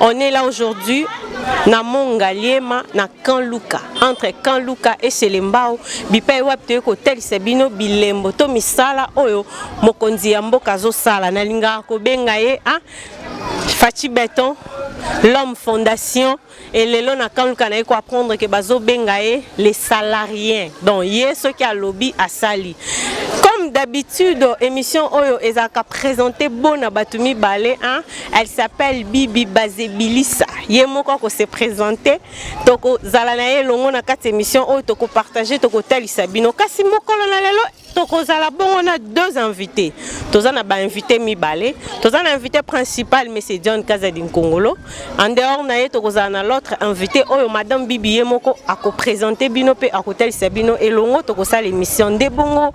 On est là aujourd'hui na Mont Ngaliema na Camp Luka entre Camp Luka et Selembao bipai wapi toye kotalisa bino bilembo to misala oyo mokonzi ya mboka azosala nalingaka kobenga ye ah, Fachi Beton l'homme fondation et lelo na kanluka na ye koapprendre ke bazobenga ye les salariens donc ye soki alobi asali comme d'habitude émission oyo ezalaka présente bona bato mibale hein? Elle s'appelle Bibi Bazebilisa. Ye moko ako se présenter, toko zala na ye longo na kati émission oyo toko partager, toko talisa bino. Kasi mokolo na lelo toko zala bongo na deux invités. Toza na ba invités mibale. Toza na invité principal monsieur John Kazadi Nkongolo. En dehors na ye toko zala na l'autre invité oyo madame Bibi ye moko ako présenter bino pe ako talisa bino elongo toko sala émission nde bongo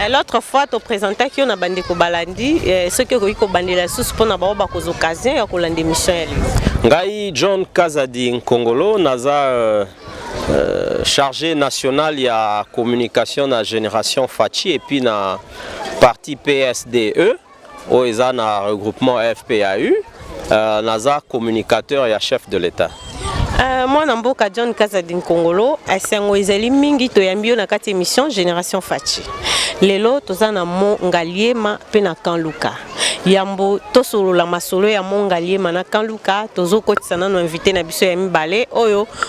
Eh, l'autre fois to présentaki yo na bandeko balandi eh, soki okoki kobandela lisusu mpo na bango bakozwa occasion ya kolanda émission ya lelo ngai john kazadi nkongolo naza euh, euh, chargé national ya communication na génération faci epuis na parti psde oyo eza na regroupement afp ya u euh, naza communicateur ya chef de l'état Euh, mwana mboka john kazadi nkongolo esengo ezali mingi toyambi yo na kati émission génération faci lelo toza na mo ngaliema mpe na kan luka yambo tosolola masolo ya mo ngaliema na kan luka tozokotisa nano invité na biso ya mibale oyo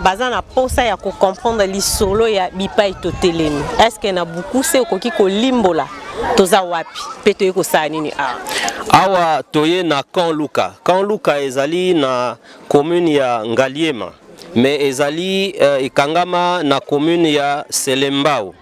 baza na posa ya ko comprendre lisolo ya bipai totelemi est-ce que na buku se okoki kolimbola toza wapi mpe toyei kosala nini awa ah. awa toye na camp luka camp luka ezali na commune ya ngaliema mais ezali uh, ekangama na commune ya selembao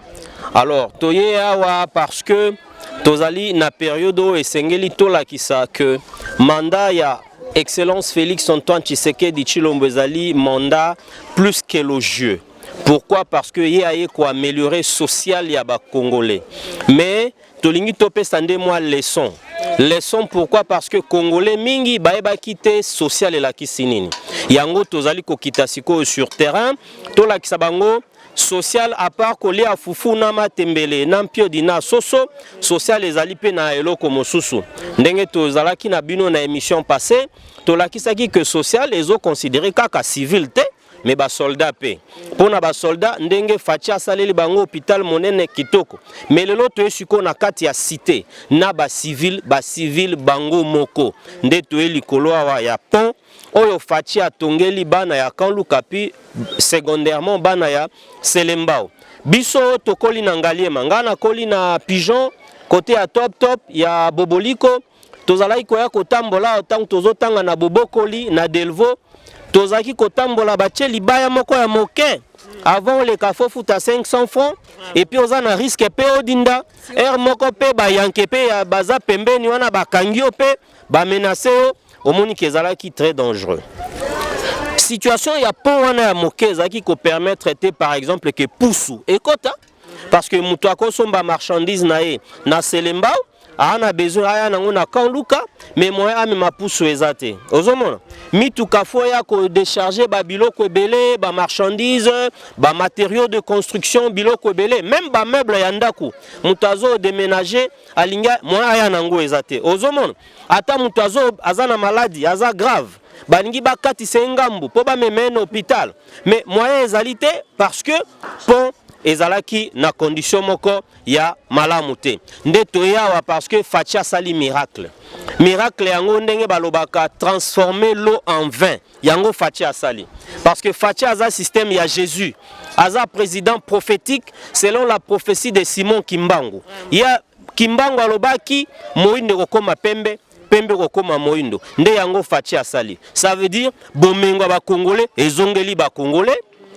alors toye awa parce que tozali na periode oyo esengeli tolakisa que mandat ya Excellence Felix Antoine Tshisekedi Tshilombo ezali mandat plus qu'élogieux. Pourquoi Parce que ye aye ko améliorer social ya ba Congolais. Mais tolingi topesa nde mwa leçon. Leçon pourquoi Parce que Congolais mingi bayebaki te social elakisi nini. Yango tozali kokita sikoyo sur terrain tolakisa bango Social à part kolia fufu na matembele na mpiodi na soso, social ezali mpe na eloko mosusu. Ndenge tozalaki na bino na emission passée, tolakisaki que social ezo considérer kaka civil te mais ba soldats pe pona ba soldats ndenge Fatshi asaleli bango hôpital monene kitoko mais lelo toye sikoyo na kati ya cité na ba civil ba civil bango moko nde toye likolo awa ya pont oyo Fatshi atongeli bana ya Camp Lukapi secondairement bana ya Selembao biso tokoli na Ngaliema ngai nakoli na Pigeon kote ya Top Top ya Boboliko tozalaki koya kotambola ntango tozotanga na Bobokoli na Delvaux tozalaki kotambola batie libaya moko ya moke avant oleka fo futa 500 francs epuis oza na riske mpe odinda heure moko mpe bayanke mpe baza pembeni wana bakangi yo mpe bamenase yo omoni ke ezalaki très dangereux situation ya pont wana ya moke ezalaki kopermettre te par exemple ke pusu ekota parce que moto akosomba marchandise na ye na selembao aa na besoin aya nango na camp luka mais moyen amema pusu eza te ozomona mituka fo ya kodecharge babiloko ebele bamarchandise bamatériaux de construction biloko ebele meme bameuble ya ndako moto azodeménage alingi moyen aya nango eza te ozomona ata mutu azo aza na maladi aza grave balingi bakatisa ye ngambu mpo bamema ye na hopital mais moyen ezali te parce que pont ezalaki na condition moko ya malamu te nde toye awa parce que faci asali miracle miracle yango ndenge balobaka transformer l'eau en vin yango faci asali parce que faci aza système ya jésus aza président prophétique selon la prophétie de simon kimbangu ye Kimbangu alobaki moindo ekokoma pembe pembe kokoma moindo nde yango Fatshi asali ça veut dire bomengo ya bakongole ezongeli bakongole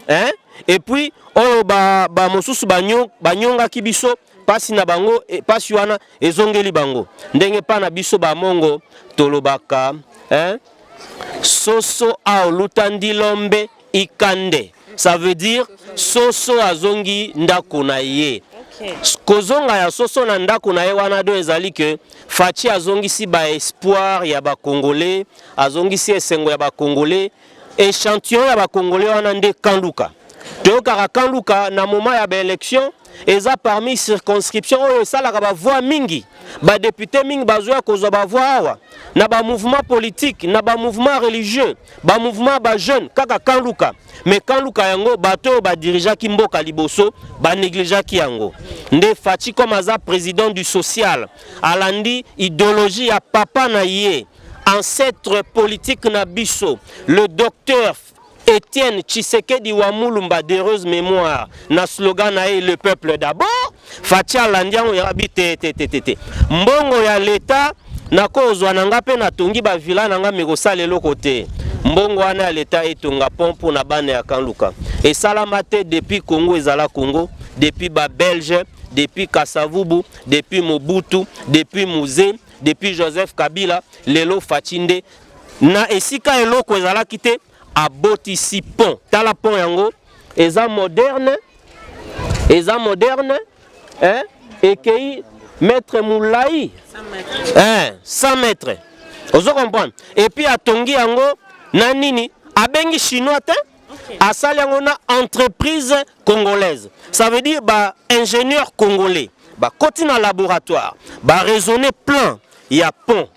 hein? et puis oyo bamosusu ba banyongaki ba biso pasi na bango e, pasi wana ezongeli bango ndenge pa na biso bamongo tolobaka hein? soso aoluta ndilombe Ikande, ça veut dire soso azongi ndako na ye. Kozonga ya soso na ndako na ye wana do ezali que Fatshi azongisi ba espoir ya ba Congolais, azongisi esengo ya ba Congolais. Echantillon ya ba Congolais wana nde Kanduka. Toyokaka Kanduka na moment ya ba élection eza parmi circonscription oyo esalaka ba voix mingi. Ba députés mingi bazoya kozwa ba voix awa na ba mouvements politiques, na ba mouvements religieux. ba mouvement ya ba jeune kaka kan luka mais kan luka yango bato oyo badirigeaki mboka liboso banegligeaki yango nde faci comme aza président du social alandi idéologie ya papa na ye ancêtre politique na biso le docteur Etienne Tshisekedi wa Mulumba d'heureuse mémoire na slogan na ye le peuple d'abord Fatshi alandi yango ya bi te te te te te. Mbongo ya leta nakozwa na nga mpe natongi bavila na nga mekosala eloko te. Mbongo wana ya leta etonga pont mpo na bana ya Kanluka esalama te depuis Congo ezala Congo, depuis ba Belge, depuis Kasavubu, depuis Mobutu, depuis Muze, depuis Joseph Kabila, lelo Fatshi nde na esika eloko ezalaki te abotisi pont. Tala pont yango eza moderne eza moderne hein? ekei mètre molai hein, 100 mètre ozo comprendre epuis atongi yango na nini abengi chinois te okay. asali yango na entreprise congolaise ça veut dire ba ingénieur congolais bakoti na laboratoire baraisonne plan ya pont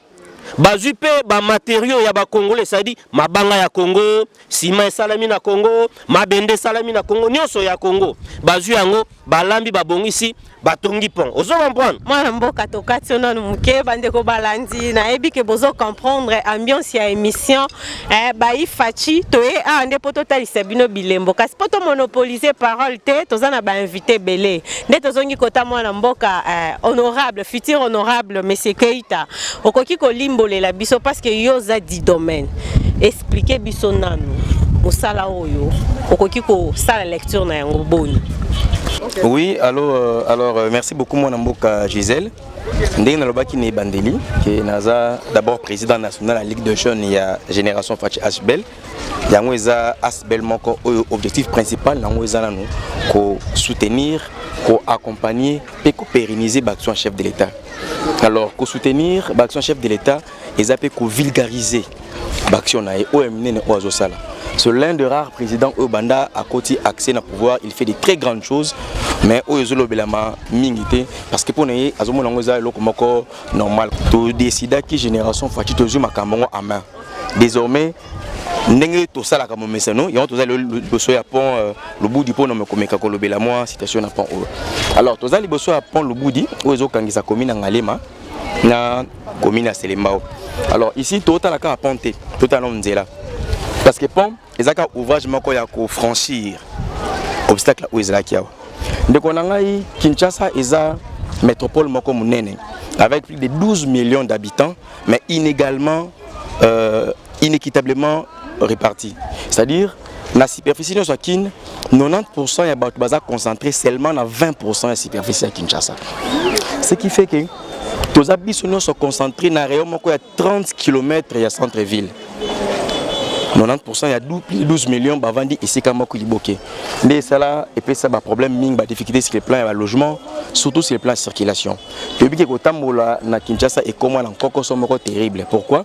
bazwi mpe bamaterio ya bacongolais cetadi mabanga ya congo nsima esalami na congo mabende esalami na congo nyonso ya congo bazwi yango balambi babongisi batongi pont ozo comprendre mwana mboka tokati yo nanu moke bandeko balandi nayebi ke bozo comprendre ambiance ya émission Eh, bayi faci toye awa nde mpo totalisa bino bilembo kasi mpo tomonopolise parole te toza na bainvite ebele nde tozongi kota mwana mboka eh, honorable futur honorable monsieur keita okoki kolimbolela biso parce que yo oza di domaine explike biso nanu mosala oyo okoki kosala lecture na yango boni Oui, allô, euh, alors euh, merci beaucoup mon amboka Gisèle. ndenge nalobaki na ebandeli ke naza d'abord président national ya ligue de jeunes ya génération faci asbel yango eza asbel moko oyo objectif principal na yango eza nanu kosoutenir koaccompagner mpe kopériniser baaction ya chef de l'état alors kosoutenir baaction ya chef de l'état eza pe ko vulgariser baction na ye oyo minene oyo azosala c'est l'un de rares président oyo banda akoti accès na pouvoir il fait de très grandes choses mais oyo ezolobelama mingi te parce que mpo na ye azomona yango eza eloko moko normal todecidaki génération faci tozwi makambo yango en main désormais ndenge tosalaka momesano yango toza lelo liboso ya pont euh, lubudi mpo na komeka kolobela mwa situation na pont oyo alors toza liboso ya pont lubudi oyo ezokangisa commune ya ngalema na commune ya selembao alors ici totala kaka pont te totala nano nzela parce que pont eza kaka ouvrage moko ya kofranchir obstacle oyo ezalaki awa ndeko na ngai kinshasa eza métropole moko monene avec plus de 12 millions d'habitants mais inégalement euh, inéquitablement réparti. C'est-à-dire, la superficie de Kin, 90% ya bato baza concentré seulement na 20% ya superficie ya Kinshasa. Ce qui fait que toza biso nyonso concentré na rayon moko ya 30 km ya centre ville. 90% ya 12 millions bavandi esika moko liboke nde esala epesa baproblème mingi badifficulté sur le plan ya balogement surtout sur le plan ya circulation toyebi ke kotambola na kinshasa ekoma na nkokoso moko terrible pourquoi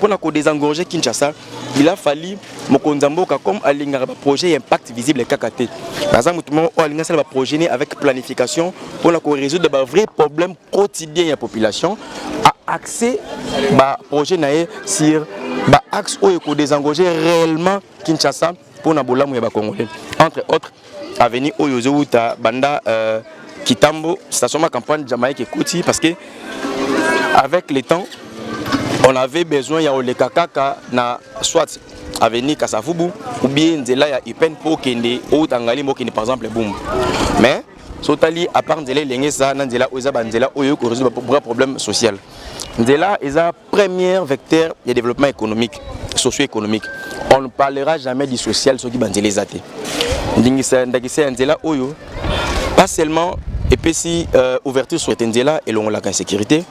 Pour la désengorger Kinshasa, il a fallu mokonzi ya mboka comme alingaka baprojet ya impact visible kaka te naza motu moko oyo alingi asala baprojet ne avec planification mpona korésoudre bavrai problème quotidien ya population aaxe baprojet na ye sur baaxe oyo ekodésengorger réellement kinshasa mpo na bolamu ya bacongolais entre autres avenue oyo ezowuta banda euh, kitambo station ma campagne jamaïque ekoti parce que avec le temps on avait besoin ya oleka kaka na soit avenue kasavubu ou bien nzela ya upn mpo okende outa ngali mokende par exemple bumbu mais sotali apart nzela elenge eza na nzela oyo eza banzela oyo ekoresoudre bra problème social nzela eza Première vecteur de développement économique, socio-économique. On ne parlera jamais du social soki banzela eza te. Ndingisa ndakisa ya nzela oyo pas seulement epesi euh, ouverture sur ete nzela elongolaka insécurité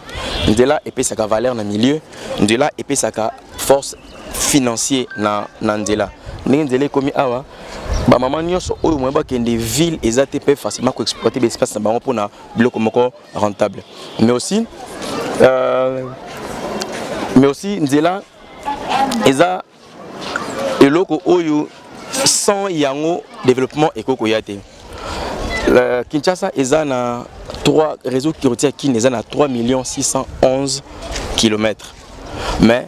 nzela epesaka valeur na milieu nzela epesaka force financier na, na nzela ndenge nzela ekomi awa bamama nyonso oyo moye bakende ville eza te mpe facilement koexploite baespace na bango mpona biloko moko rentable mais aussi euh, mais aussi nzela eza eloko oyo sans yango développement ekoki koya te euh, kinshasa eza na 3 réseau routier ya kin eza na 3 611 kilomètre mais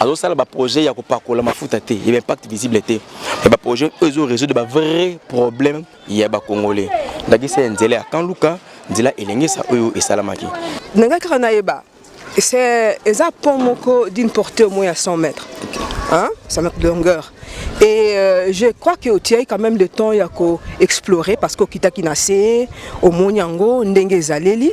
azosala baprojet ya kopakola mafuta te ya baimpact visible te ya baprojet oyo ezo résoudre bavrai problème ya bacongolais ndakisa ya nzela ya kanluka nzela elengesa oyo esalamaki na ngai kaka nayeba eza pont moko d'une portée au moins ya 100 mètres hein, ça mètres de longueur et euh, je crois que otiaki quand même le temps ya koexplorer parce que okitaki na se omoni yango ndenge ezaleli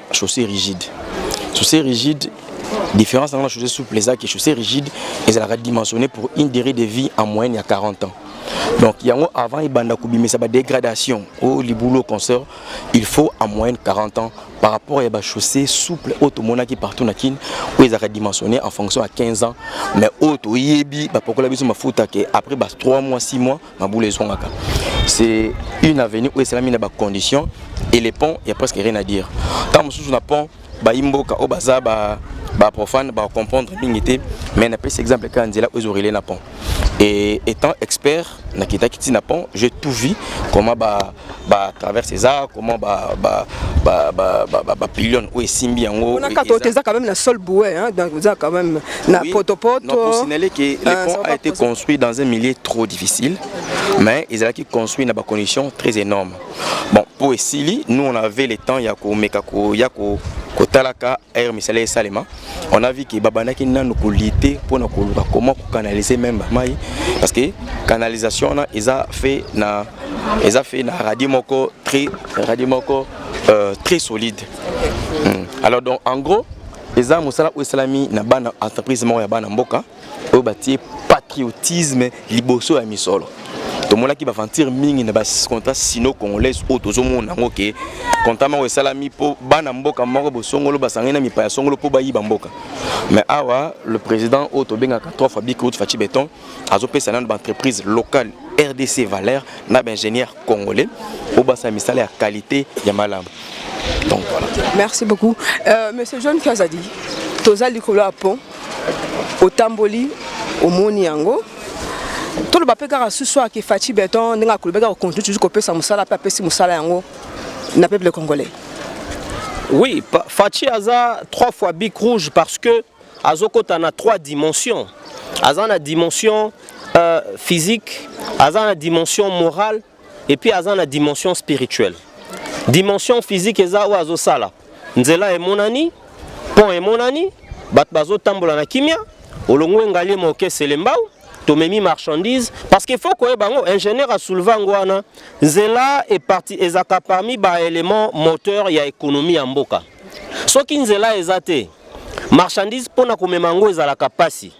chaussée rigide chaussée rigide différence dans la chaussée souple eza que chaussée rigide ezalaka dimensionné pour une durée de vie en moyenne ya 40 ans donc yango avant ebanda kobimisa badégradation o libulu concert il faut en moyenne 40 ans par rapport ya bachaussée souple oyo tomonaki partout na kine oyo ezalaka dimensionné en fonction ya 15 ans mais oyo toyebi bapakola biso mafuta ke après bas 3 mois 6 mois mabula ezongaka c'est une avenue oyo esalami na bacondition et les ponts ya presque rien à dire ntango mosusu na pont bayimboka oyo baza ba baprofane bacomprendre mingi te mais napesi exemple kaka nzela oyo ezorele na pont et étant expert nakitaki ntina pont je tout vie comment ba ba traverse eza comment ba ba ba ba ba, ba, ba pilion oyo esimbi yango on a quand on eza quand même la seule bouée hein donc eza quand même na oui, poto poto non pour signaler que le euh, pont a été construit dans un milieu trop difficile mais ils allaient construit dans des conditions très énormes bon pour Essili nous on avait le temps ya ko meka ko ya ko kotalaka air misala esalema on a vu que babandaki nanu kolite mpona koluka comment kocanalise meme bamai parce que canalisation wana eza fait na eza fait na radio moko très radio moko euh, très solide mm. alors donc en gros eza mosala oyo esalami na bana entreprise moko ya bana mboka oyo batie patriotisme liboso ya misolo tomonaki baventure mingi na bacontra sino congolaise oyo tozomona yango ke kontra moko esalami mpo bana mboka moko bosongolo basangani na mipaya songolo mpo bayiba mboka mais awa le président oyo tobengaka trois fois bicrout faci beton azopesa nano baentreprise locale rdc valeur na baingénieur congolais po basala misala ya qualité ya malamu donc voilà merci beaucoup euh, monsieur john kazadi toza likolo ya pont otamboli omoni yango toloba mpe kaka susu ake faci beton ndenge akolobaki akokontinue toujours kopesa mosala mpe apesi mosala yango na peuple congolais oui faci aza trois fois bic rouge parce que azokota na trois dimensions aza na dimension euh, physique aza na dimension morale et puis aza na dimension spirituelle dimension physique eza oyo azosala nzela emonani pont emonani bato bazotambola na kimia olongo engalie mokesele mbau tomemi marchandise parce qu'il faut koyeba yango ingénieur asouleva yango wana nzela eparti ezalaka parmi baélément moteur ya économie ya mboka Soki nzela eza te, marchandise mpo na komema yango ezalaka mpasi,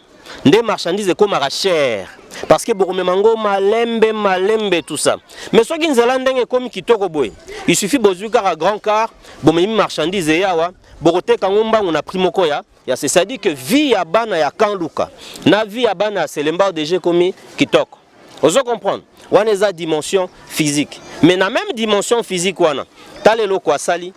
nde marchandise ekomaka cher parce que bokomema yango malembe malembe tout ça. Mais soki nzela ndenge ekomi kitoko boye, il suffit bozwi kaka grand car, bomemi marchandise eyawa, bokoteka yango mbangu na prix moko ya ya c'est-à-dire que vie ya bana ya Kanluka na vie ya bana ya Selembao deja ekomi kitoko. ozo comprendre wana eza dimension physique mais na même dimension physique wana tala eloko asali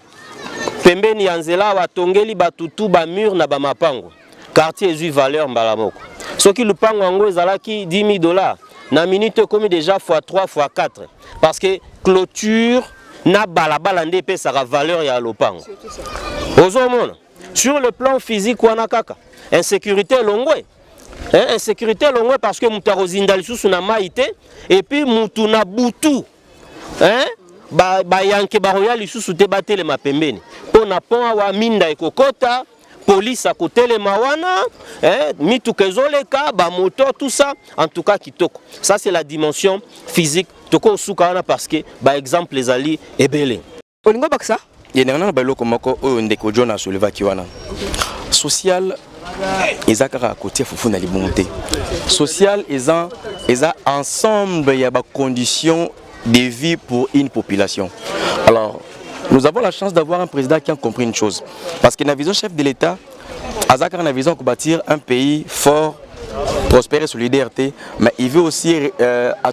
pembeni ya nzela awa atongeli bato tu bamur na bamapango quartier ezwi valeur mbala moko soki lupango yango ezalaki 10 000 dollars na minute ekomi déjà fois 3 fois 4 parce que clôture na balabala nde epesaka valeur ya lopango ozomona sur le plan physique wana kaka insécurité elongwe eh, insécurité elongwe parce que moto akozinda lisusu na mai te epuis motu na butu eh, bayanke ba bakoya lisusu te batelema pembeni mpo na pont awa minda ekokota polisi akotelema wana eh, mituka ezoleka bamoto tout ça en tout cas kitoko ça c'est la dimension physique tokosuka wana parce que baexemple ezali ebele olingo bakisa yendanga naloba eloko moko oyo ndeko john asolevaki wana social eza kaka kotia fufu na libumu te social eza eza ensemble ya bacondition de vie pour une population alors nous avons la chance d'avoir un président qui a compris une chose parce que na vision chef de l'état aza kaka na vision ya kobâtir un pays fort prospère et solidaire te mais il veut aussi euh,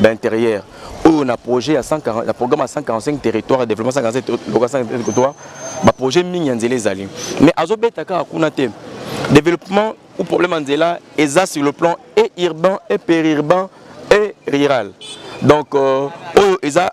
d'interieur oyo na projet ya 140 na programme ya 145 territoire développement 145 territoire ba projet mingi ya nzela ezali mais azobeta kaka kuna te développement ou problème ya nzela eza sur le plan et urbain et périurbain et rural donc euh, oyo eza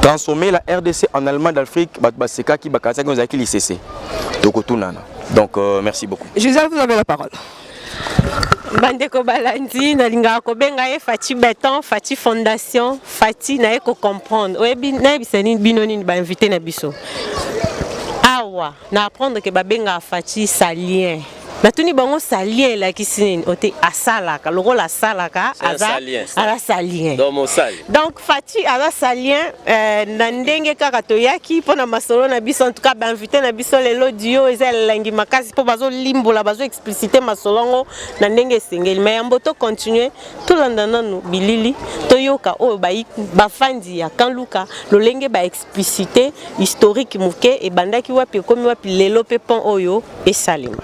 transformer la rdc en allemagne d'afrique bato basekaki bakanisaki oyo ezalaki lisese tokotunana donc euh, merci beaucoup gisèle vous avez la parole bandeko balandi nalingaka kobenga ye fati beton fati fondation fati naye kocomprendre nayebisa bino nini bainvite na biso awa Na apprendre que babengaka Fatshi salien. natuni bango salien elakisi nini ote asalaka lokola asalaka aza salien donc fati aza salien euh, na ndenge kaka toyaki mpo na masolo na biso en tout cas bainvité na biso lelo dio eza elengi makasi mpo bazolimbola bazoexplicite masolo yango na ndenge esengeli mai yambo tocontinue tolanda nanu bilili toyoka oyo bafandi ya kanluka lolenge ba Publicite historique moke ebandaki wapi ekomi wapi lelo pe pont oyo esalema.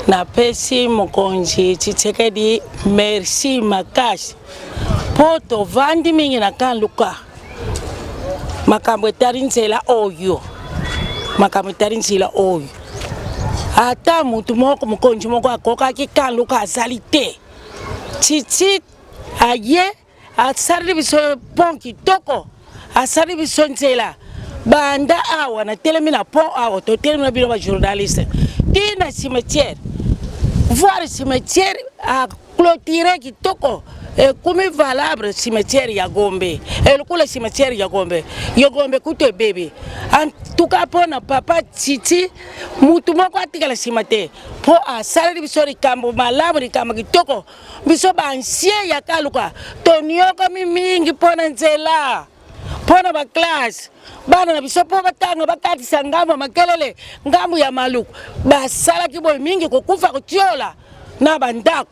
Napesi mokonzi Tshisekedi merci makasi mpo tovandi mingi na kan luka makambo etali nzela oyo makambo etali nzela oyo ata motu moko mokonzi moko akokaki kan luka azali te titi aye asali biso pont kitoko asali biso nzela banda awa natelemi na pont awa totelemi na bino bajournaliste ti na cimetière voir cimetière aclotire kitoko ekomi valable cimetière ya gombe elokola cimetière ya gombe yo gombe kutu ebebe antuka mpo na papa titi motu moko atikala nsima te mpo asaleli biso likambo malamu likambo kitoko biso ba ancien ya kaluka toniokami mingi mpo na nzela mpo na baklasse bana na biso mpo batanga bakatisa ngambo ya makelele ngambo ya maluku basalaki boye mingi kokufa kotiola na bandako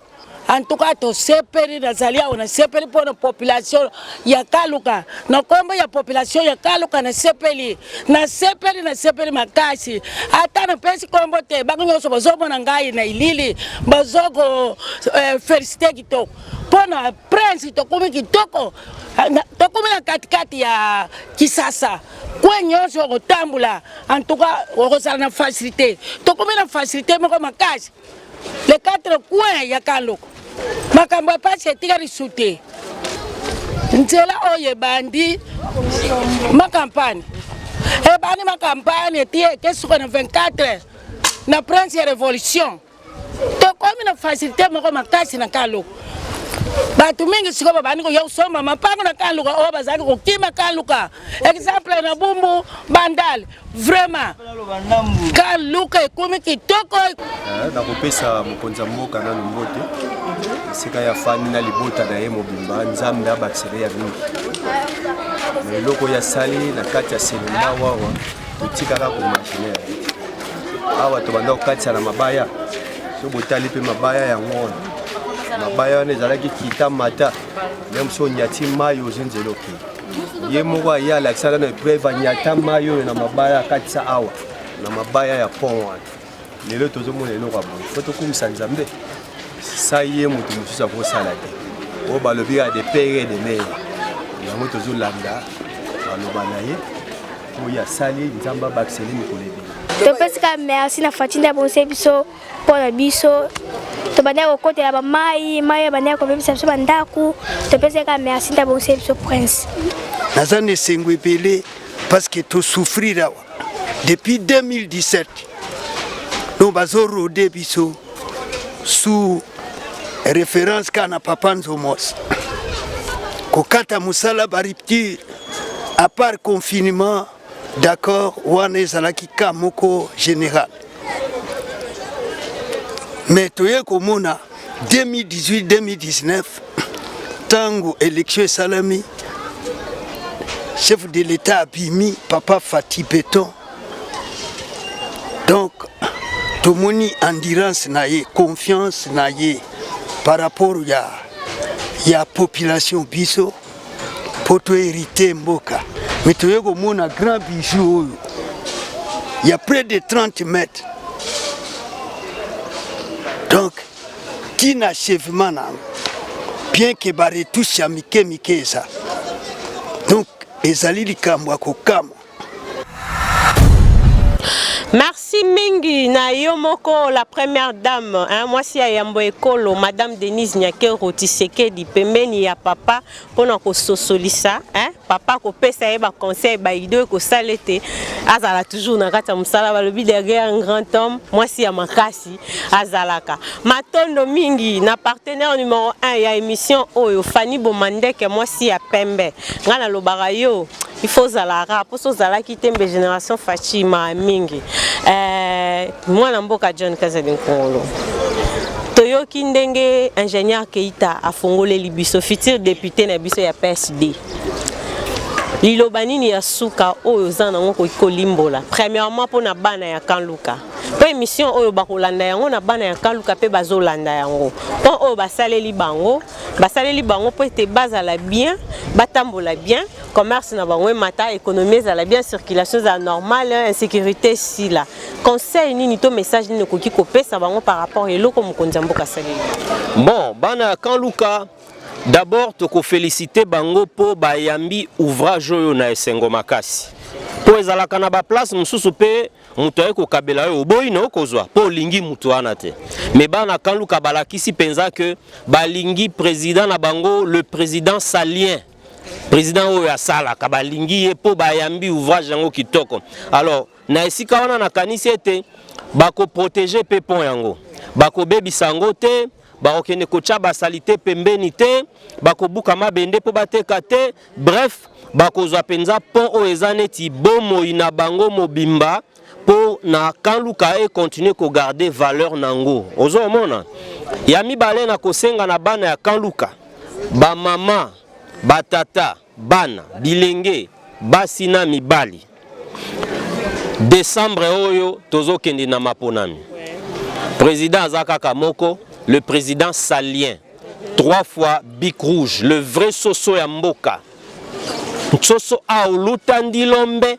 antuka tosepeli nazali awa nasepeli mpo na population ya kaluka na nkombo ya population ya kaluka nasepeli nasepeli nasepeli makasi ata napesi nkombo te bango nyonso bazomona ngai na ilili bazoko eh, felicite kitoko mpo na prince tokomi kitoko tokomi na katikati ya kisasa kwe nyonso okotambola antuka okozala na facilité tokomi na facilité moko makasi le quatre coin ya kaloko makambo ya mpasi etikali sute nzela oyo ebandi makampani ebandi makampani eti ekesuka na 24 na prince ya révolution tokomi na facilité moko makasi na kaloko bato mingi sikoyo babandi koya kosomba mapango na kaluka oyo bazalaki kokima kaluka exemple na bumbu bandal vraiment ka luka ekomi kitoko eh, nakopesa mokonzi ya mboka nanu mbote esika ya fani na libota na ye mobimba nzambe abakisela ya mingi na eloko oyo asali na kati ya selula wawa totikaka komagine awa tobanda kokatisa na mabaya so botali mpe mabaya yango wana mabaya wana ezalaki kita mata nde mosi onyati mai ozi nzela okei ye moko aye alakisaka na epreuve anyata mai oyo na mabaya akatisa awa na mabaya ya pont wana lelo tozomona eloko ya boye po tokumisa nzambe sa ye moto mosusu akosala te oyo balobi ya de pere de mere yango tozolanda baloba na ye oyo asali nzambe abakiseli mikolo ebele topesi kaka merci na faci nde abongisi biso mpo na biso tobandaki kokotela bamai mai ebandaki kobebisa biso bandako topesaki kaka merci nta bongisi biso prince naza na esengo ebele parceke tosouffrir awa depuis 2017 no bazorode biso sous référence kaka na papa nzomos kokata mosala barupture apart confinement D'accord, wana ezalaki cas moko général. Mais toye komona 2018-2019 tango élection esalami chef de l'État abimi papa Fatih Beton. Donc tomoni endurance na ye, confiance na ye par rapport ya ya population biso mpo to hérite mboka me toye komona grand bijou oyo ya près de 30 mètres donc ti na achèvement na yango bien ke baretouche ya mike mike eza donc ezali likambo ya kokamwa Merci mingi na yo moko la première dame hein, mwasi ya yambo ekolo madame Denise Nyakero Tshisekedi pembeni ya papa mpona kososolisa hein, papa kopesa ye ba conseil ba idée ekosala ete azala toujours na kati ya mosala balobi derrière un grand homme mwasi ya makasi azalaka matondo mingi na partenaire numero 1 ya émission oyo Fanny Bomandeke mwasi ya pembe ngai nalobaka yo il faut ozala rap mposo ozalaki te mbe génération faci maa mingi eh, mwana mboka john kazadi nkongolo toyoki ndenge ingénieur keita afongoleli biso futur député na biso ya psd liloba nini ya suka oyo oza nango okoki kolimbola premièrement mpo na bana ya kanluka mpo émission oyo bakolanda yango na bana ya kanluka mpe bazolanda yango mpo oyo basaleli bango basaleli bango mpo ete bazala bien batambola bien commerce na bango emata économie ezala bien circulation ezala normale hein, insécurité sila conseil nini to message nini okoki kopesa bango par rapport eloko mokonzi ya mboka asaleli bon bana ya kan luka d'abord tokofélicite bango mpo bayambi ouvrage oyo na esengo makasi mpo ezalaka na baplace mosusu mpe moto aye kokabela yo oboyi na okozwa mpo olingi moto wana te me bana kan luka balakisi mpenza ke balingi président na bango le président salien Président oyo asalaka balingi ye mpo bayambi ouvrage yango kitoko. Alors na esika wana nakanisi ete bakoprotege mpe pont yango, bakobebisa yango te bakokende kotya basalite pembeni te, bakobuka mabende mpo bateka te. Bref, bakozwa mpenza pont oyo eza neti bomoi na bango mobimba. mpo na Camp Luka e continuer ko garder valeur nango. Ozomona? Ya mibale na kosenga na bana ya Camp Luka, ba mama, ba tata, bana, bilenge, basi na mibali. Décembre oyo tozokende na maponami. Président aza kaka moko, le président Salien. Trois fois bic rouge, le vrai soso ya mboka. Soso aoluta ndilombe.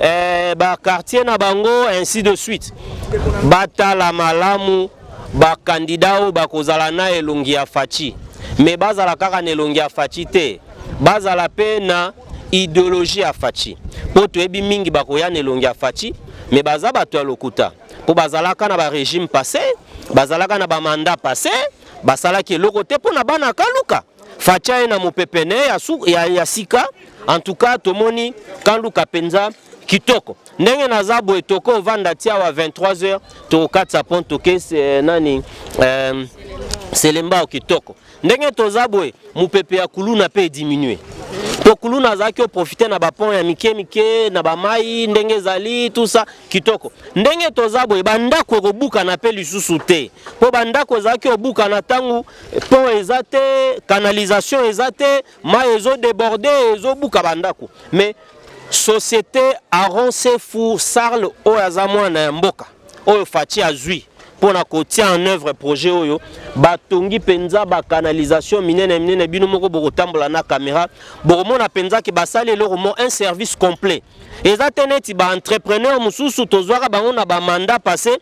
eh, ba quartier na bango ainsi de suite batala malamu bakandida oyo bakozala na elongi ya faci me bazala kaka na elongi ya faci te bazala mpe na ideologie ya faci mpo toyebi mingi bakoya na elongi ya faci me baza bato ya lokuta mpo bazalaka na barégime passé bazalaka na bamanda passé basalaki eloko te mpo na bana kaluka Facha ye na mopepe ne ya, ya, ya sika en tout cas tomoni kanduka penza kitoko ndenge naza boye toko vanda ti awa 23h tokokatisa pont toke eh, nani euh, selembao kitoko ndenge toza boye mopepe ya kuluna mpe ediminue mpo kuluna azalaki oprofite na bapont ya mike mike na bamai ndenge ezali tusa kitoko ndenge toza boye bandako ekobukana mpe lisusu te mpo bandako ezalaki obukana ntango pont eza te canalisation eza te mai ezo deborde ezobuka bandako mais société aron sefu sarle oyo aza mwana ya mboka oyo faci azwi mpo na kotia en œuvre projet oyo batongi mpenza bacanalisation minene minene bino moko bokotambola na caméra bokomona mpenza ke basali eloko mo un service complet eza te neti baentrepreneur mosusu tozwaka bango na bamanda passé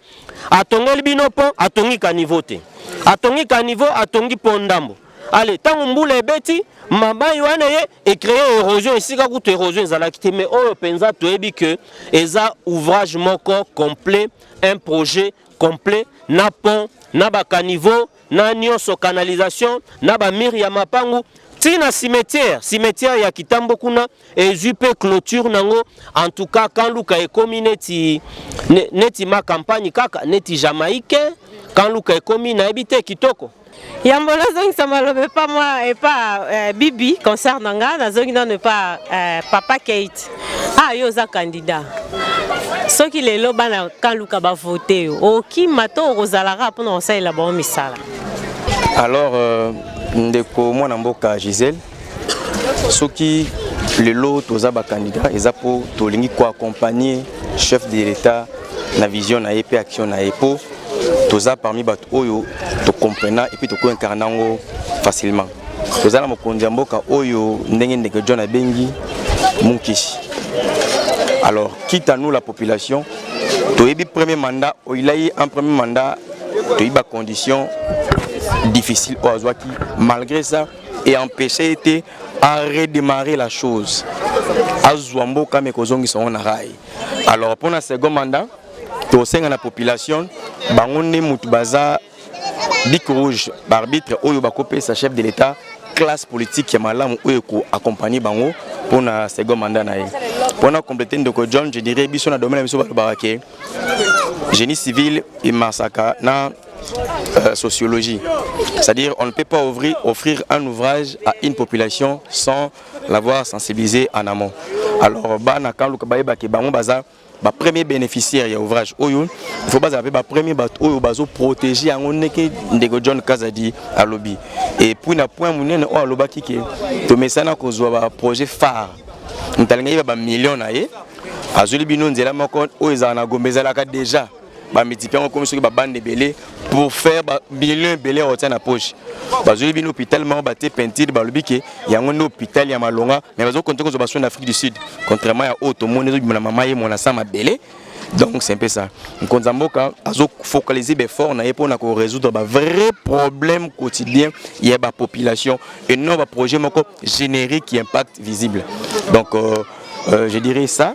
atongeli bino pont atongi caniveau te atongi caniveau atongi pont ndambo ale ntango mbula ebeti mabai wana ye ecreye érosion esika kutu érosion ezalaki te mais oyo mpenza toyebi ke eza ouvrage moko complet un projet complet na pont na bacaniveau na nionso canalisation na ba mur ya mapangu ti na cimetière cimetière ya kitambo kuna ezwi mpe clôture nango en tout cas kan luka ekomi neti ne, neti ma campagne kaka neti jamaïcain kan luka ekomi nayebi te kitoko yambo nazongisa maloba epa mwa epa eh, bibi concert na nga nazongi nano epa eh, papa kate Ah, yo oza candidat soki lelo bana kaluka bavote yo okima to okozalaka mpona kosalela bango misala alors euh, ndeko mwana mboka gisele soki lelo toza bakandida eza mpo tolingi koaccompagne chef de l'etat na vision na ye mpe action na ye mpo toza parmi bato oyo tokomprena epuis tokoincarna yango facilement toza na mokonzi ya mboka oyo ndenge ndeke john abengi munkishi alors quitte à nous la population toyebi premier mandat oyila ye en premier mandat toyebi bacondition difficile oyo azwaki malgré ça et empêche ye te a redémarrer la chose azwa mboka me kozongisa yango na rai alors mpo na second mandat tosenga na population bango nde motu baza Bic rouge ba arbitre oyo bakopesa chef de l'etat classe politique ya malamu oyo ekoaccompagne bango mpo na second mandat na ye mpo na complete ndeko john je dirais biso na domaine na biso balobaka ke génie civil emasaka na euh, sociologie. C'est-à-dire on ne peut pas ouvrir, offrir un ouvrage à une population sans l'avoir sensibilisé en amont. Alors bana quand luka bayeba ke bango baza ba premier beneficiaire ya ouvrage oyo il faut bazala pe ba premier ba oyo bazo protéger yango ndeke ndeko John Kazadi alobi et puis na point munene oyo alobaki ke to mesana kozwa ba projet phare mutalinga yeba ba millions na ye azuli bino nzela moko oyo ezala na Gombe ezalaka déjà ba multiplier yango komi soki ba bande ebele pour faire ba millions ebele otia na poche bazwi bino hôpital moko batie peinture balobi ke yango nde hôpital ya malonga mais bazo konte kozwa basoni na afrique du sud contrairement ya oyo tomoni ezobima na mama ye mwana sa mabele donc c'est un peu ça nkonza mboka azo focaliser befort na ye mpo na korésoudre ba vrai problème quotidien ya ba population et non ba projet moko générique qui impact visible donc euh, euh, je dirais ça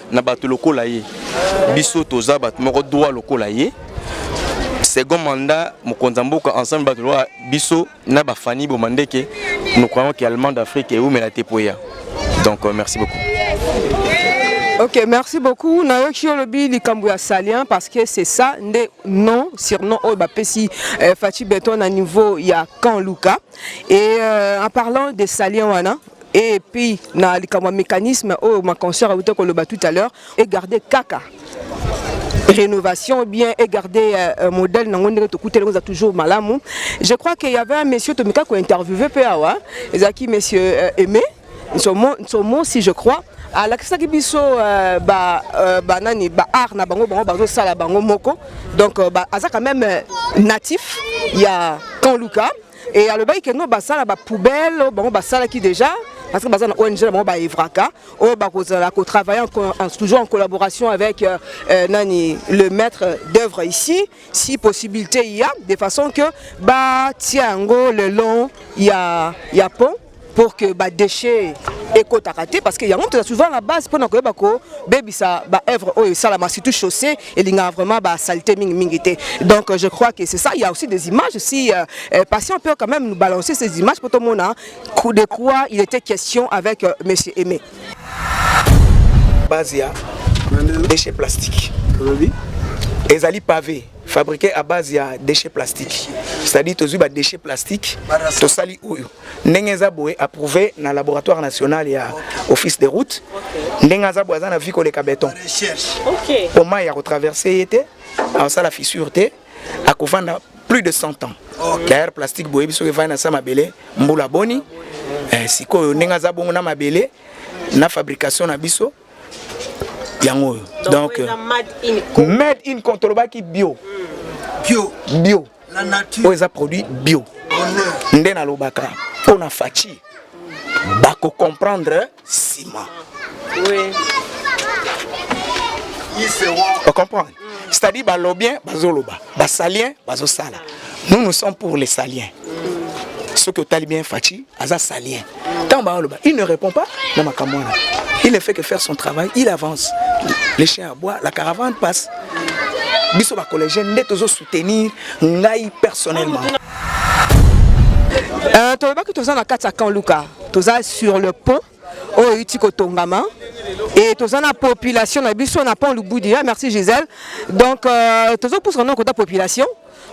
na bato lokola ye biso toza bato moko droit lokola ye second mandat mokonzi ya mboka ensemble bato lokola biso na bafani boma ndeke nous croyons que allemand d'afrique eumela te mpo eya donc euh, merci beaucoup Ok, merci beaucoup. Nayoki olobi likambo ya salien parce que c'est ça nde non surnom oyo bapesi euh, Fatshi Beton na niveau ya Camp Luka. Et euh, en parlant de salien wana, et puis na likambo ya mécanisme oyo ma concert awuta koloba tout à l'heure et garder kaka rénovation bien et garder euh, euh modèle nango ndenge tokutela oza toujours malamu je crois qu'il y avait un monsieur tomika ko interviewer pe awa ezalaki monsieur euh, aimé nsomo nsomo si je crois alakisaki biso euh, ba euh, ba nani ba art na bango bango bazo sala bango moko donc euh, ba, aza quand même euh, natif ya Kanluka Et alobaki que non basala ba poubelle oh, bango basalaki déjà parce que baza na ONG na bango ba Evraka oyo oh, bakozala ko travailler en, toujours en collaboration avec euh, euh, nani le maître d'œuvre ici si possibilité il y a de façon que ba tia yango le long ya ya pont pour que ba déchets ekotaka te parce que yango toza souvent la base mpona koyeba kobebisa baœuvre oyo esalama surtout chaussée elingaka vraiment basalite mingi mingi te donc je crois que c'est ça il y a aussi des images si euh, euh, patient peut quand même nous balancer ces images mpo tomona de quoi il était question avec euh, monsieur aimé base ya déchet plastique ezali pavé fabriquer à base ya déchets plastiques c'est-à-dire tozwi ba déchets plastiques tosali oyo ndenge eza boye approuvé na laboratoire national ya office des routes ndenge aza boye aza na vie koleka beton po mai ya kotraverse ye te akosala fissure te akovanda plus de 100 ans d'ailleurs plastique boyebi soki evandi na sa mabele mbula boni eh, sikoyo ndenge aza bongo na mabele na fabrication na biso yango oyo donc made in contre olobaki bio bio bio oyo eza produit bio nde nalobaka mpo na faci bakocomprendre nsima ocomprendre mm. c'est-à-dire balobien bazoloba basalien bazosala nous nous sommes pour les saliens mm. soki otali bien faci aza salien ntango baoloba il ne répond pas na makambo wana il ne fait que faire son travail il avance le chien aboie la caravane passe biso bacollégien nde tozo soutenir ngai personnellement euh, tolobaki toza na kati ya camp luka toza sur le pont oyo euti kotongama et toza na population na biso na pont lubudi ah, merci gisèle donc euh, tozopusa na kota population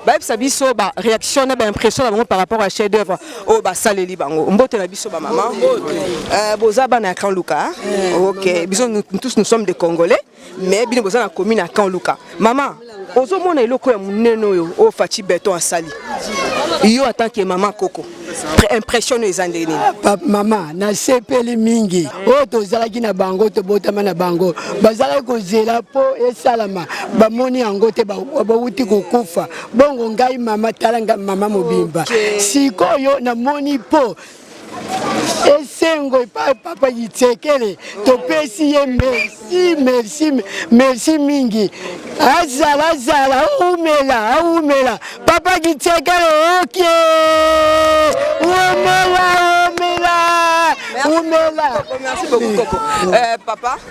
bayebisa biso ba réaction na ba impression na bango par rapport à chef d'œuvre oyo oh, basaleli bango mbote na biso bamama euh, boza bana ya camp luka hein? ok biso tous nous sommes des congolais mais bino boza na commune ya camp luka mama ozomona eloko ya monene oyo oyo faci beton asali yo en tant que mama koko impression oyo eza ndenge nini ah, mama nasepeli mingi oyo tozalaki na bango tobotama na bango bazalaki kozela mpo esalama bamoni yango te bawuti kokufa bongo ngai mama tala ngai mama mobimba sikoyo namoni mpo esengo epai papa Yitsekele, topesi ye merci merci merci mingi. Azala azala aumela aumela papa Yitsekele oke omela omela omela. Merci beaucoup Koko. Euh, papa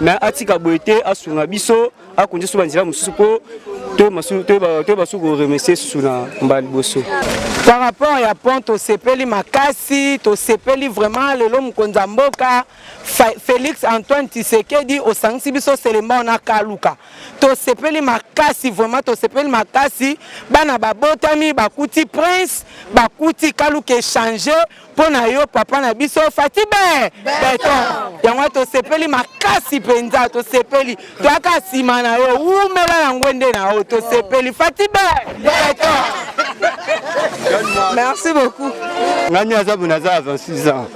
mais atika boye te asunga biso akonzi so banzela mosusu mpo to basusu koremercie susu na mbala liboso par rapport ya pont tosepeli makasi tosepeli vraiment lelo mokonzi ya mboka félix antoine tisekedi osangisi biso selembao na kaluka tosepeli makasi vraiment tosepeli makasi bana babotami bakuti prince bakuti kaluka echange mpo na yo papa na biso fati be beton yango wana tosepeli makasi mpenza tosepeli toyaka nsima na yo wumela na ngwende na yo tosepeli fati be beton merci beaucoup ngani aza bona aza ya 26 ans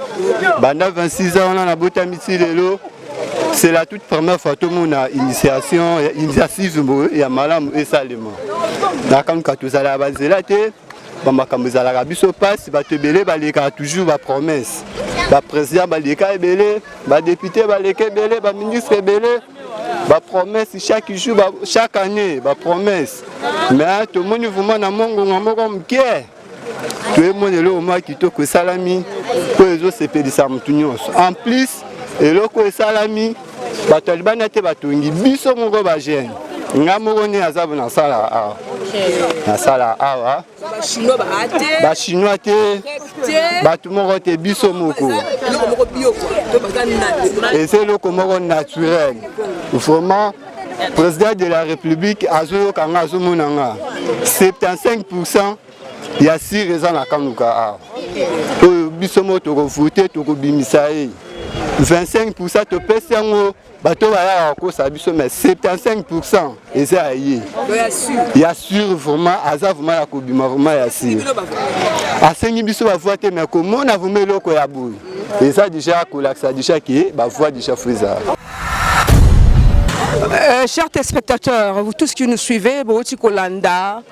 banda 26 ans wana nabotami ti lelo c'est la toute première fois tomona initiation initiative ya malamu esalema nakamka tozala ya banzela te ba makambo ezalaka biso mpasi bato ebele balekaka toujours ba promesse bapresident baleka ebele badepute baleka ebele baministre ebele bapromesse chaque jour ba, chaque année bapromesse mais tomoni vraimen na mongongo moko moke toyemona eloko mwa kitoko esalami oyo ezosepelisa motu nyonso en plus eloko esalami bato ya libanda te batongi biso moko ba jeune nga moko nde naza nasala awa nasala awa bachinois te bato moko te biso moko eza eloko moko naturel vraiment président de la république azoyoka nga azomona nga 75 pourcent ya sire eza na kanuka awa oyo biso moko tokovute tokobimisa ye 25 pourcent topesi yango bato bayaka kokosa biso mais 75 pourcent eza ya ye ya sure vraiment aza vraiment ya kobima vraiment ya sire asengi biso bavua te mais komona vraiment eloko ya boye eza deja kolakisa deja ke bavua deja fo ezala Euh, chers téléspectateurs, vous tous qui nous suivez, Bohoti Kolanda,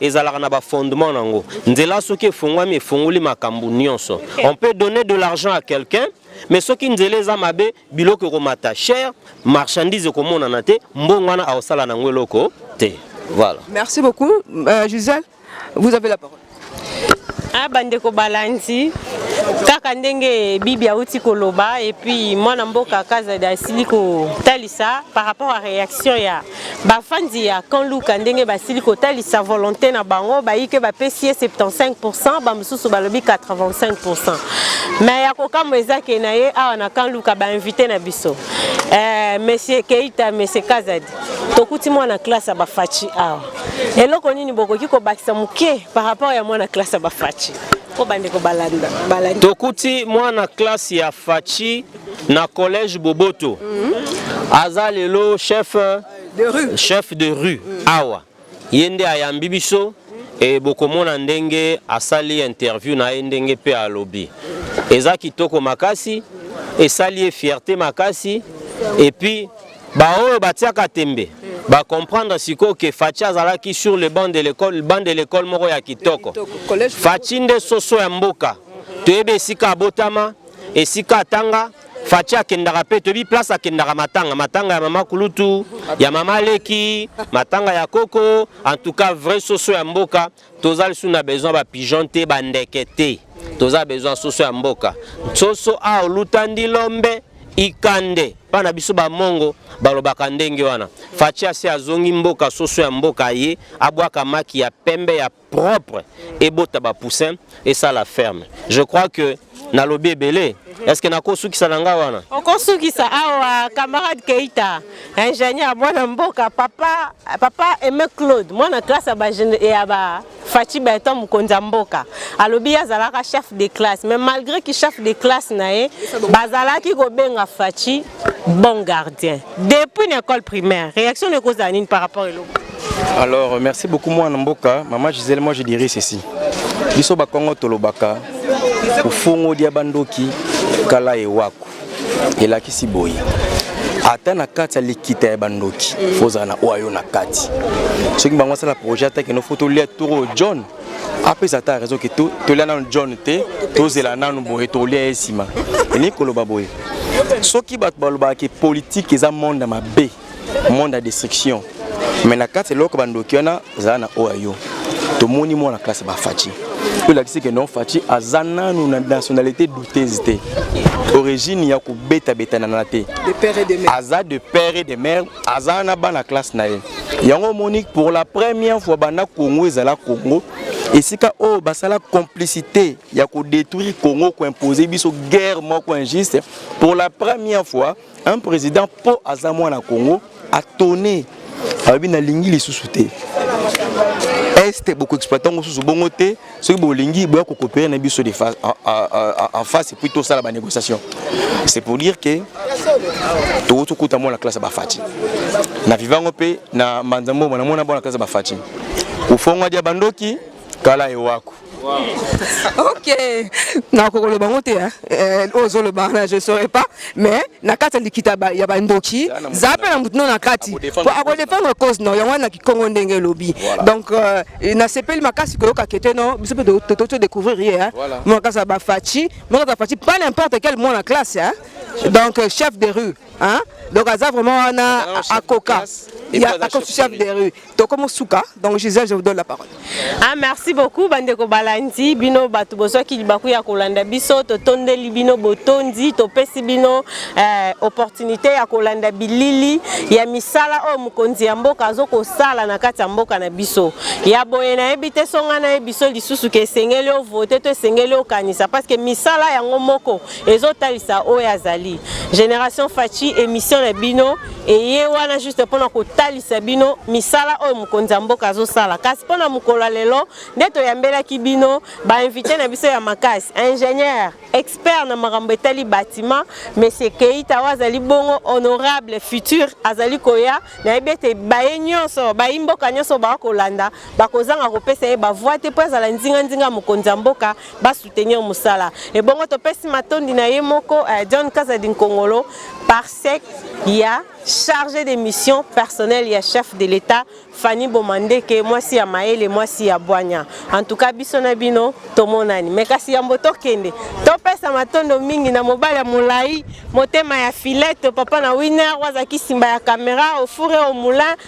ezalaka na ba fondement nango nzela soki efongwami efongoli makambo nyonso on peut donner de l'argent à quelqu'un mais soki nzela eza mabe biloko ekomata cher marchandise ekomonana te mbongo wana aosala nango eloko te voilà merci beaucoup euh, Gisèle vous avez la parole ah bandeko balandi kaka ndenge bibi auti koloba epuis mwana mboka kazadi asili kotalisa par rapport à réaction ya Bafandi ya Camp Luka ndenge basili kotalisa volonte na bango bayike bapesi ye 75%, bamosusu balobi 85%. Mais ya kokamwa eza ke na ye awa na Camp Luka ba invité na biso eh, Monsieur Keita, Monsieur Kazadi, tokuti mwana classe ya Bafachi awa. Eloko nini bokoki kobakisa moke par rapport ya mwana classe ya Bafachi? Po bandeko balanda balanda. Tokuti mwana classe ya Fachi na collège Boboto mm. aza lelo chef de rue, chef de rue. Mm. awa ye nde ayambi biso e bokomona ndenge asali interview na ye ndenge mpe alobi eza kitoko makasi esali ye fierté makasi epuis baoyo batiaka tembe ba comprendre sikoyo ke Fatshi azalaki sur le banc de l'école banc de l'école moko ya kitoko Fatshi nde soso ya mboka toyebi esika abotama esika atanga Fachi akendaka mpe toyebi place akendaka matanga matanga ya mama kulutu ya mama leki matanga ya koko en tout cas vrai soso ya mboka toza lisu na besoin ba pigeon te ba ndeke te toza besoin soso ya mboka soso a oluta ndi lombe ikande mpa na biso bamongo balobaka ndenge wana faci asi azongi mboka soso ya mboka ye abwaka maki ya pembe ya propre ebota ba poussin et ça la ferme je crois que na lobi ebele est ce que nako sukisa na nga wana oko sukisa awa camarade Keita ingénieur mwana mboka papa papa Aimé Claude mwana classe ya ba ya ba Fachi Beton mokonzi ya mboka alobi azalaka chef de classe mais malgré ki chef de classe na ye bazalaki kobenga Fachi bon gardien depuis na école primaire réaction ekozala nini par rapport eloko Alors, merci beaucoup, moi, Namboka. Maman Gisèle, moi, je dirais ceci. Biso Bakongo Tolobaka, Ufongo Diabandoki, Kala et Waku. Et là, qui s'y boye. ata na kati ya likita ya bandoki fozala na oyo ayo na kati soki bango asala projet atake no fo tolia toro john apesa ata raison ke tolia nanu john te tozela nanu boye tolia ye nsima elingi koloba boye soki bato balobaka ke politike eza monde mabe monde ya destruction mais na kati eloko bandoki wana zala na oyo ya yo tomoni mwana classe bafaci oyo elakisi ke non faci aza nanu na nationalité douteuse te origine ya kobetabetanana te aza de père et de mère aza na bana classe na ye yango omoni pour la première fois banda congo ezala congo esika oyo oh, basala complicité ya kodétruire congo koimpose biso guerre moko injuste pour la première fois un président po aza mwana Congo atone alobi nalingi lisusu te este bokoexploite yango susu bongo te soki bolingi boya kokopere na biso en face epuis tosala banégociation c'est pour dire que tokoti okuta mwana classe ya bafaci na vivango mpe na mbanza mbombo namona bana classe ya bafaci kufongwa dia bandoki kala ewako ok nakokoloba ngo te eh, oyo ozoloba wana je saurais pas mais na kati ya likita ya bandoki za mpe na motu no na kati po akodefendre cause no yango wana na kikongo ndenge elobi donc euh, nasepeli makasi koyoka kete no biso mpe totoki découvrir ye eh. mwana kasa bafaci mwana kasa bafaci pas n'importe quel mwana classe eh. donc euh, chef de rue hein donc aza vraiment wana akoka akoki chef de rue tokomi suka donc gisèle je vous donne la parole ah merci beaucoup bandeko balandi bino bato bozwaki libaku ya kolanda biso totondeli bino botondi topesi bino eh, opportunité ya kolanda bilili ya misala oyo mokonzi ya mboka azo kosala na kati ya mboka na biso ya boye nayebi te songa nayebi biso lisusu ke esengeli ovote to esengeli okanisa parce que misala yango moko ezotalisa oyo azali génération faci émission na bino eye wana juste mpo na kotalisa bino misala oyo mokonzi ya mboka azosala kasi mpo na mokolo ya lelo nde toyambelaki bino bainvite na biso ya makasi ingénieur expert na makambo etali bâtiment monsieur keita oyo azali bongo honorable futur azali koya nayebi ete baye nyonso bayi mboka nyonso baa kolanda bakozanga kopesa ye bavoi te mpo azala nzinganzinga mokonzi ya mboka ba soutenir musala ebongo topesi matondi na ye moko eh, John Kazadi Nkongolo par sec ya chargé de mission personnel ya chef de l'État Fanny Bomandeke mwasi ya Maele mwasi ya Bwanya en tout cas biso na bino tomonani mais kasi yambo tokende topesa matondo mingi na mobali ya molai motema ya filete papa na winner wazaki simba ya kamera ofure au moulin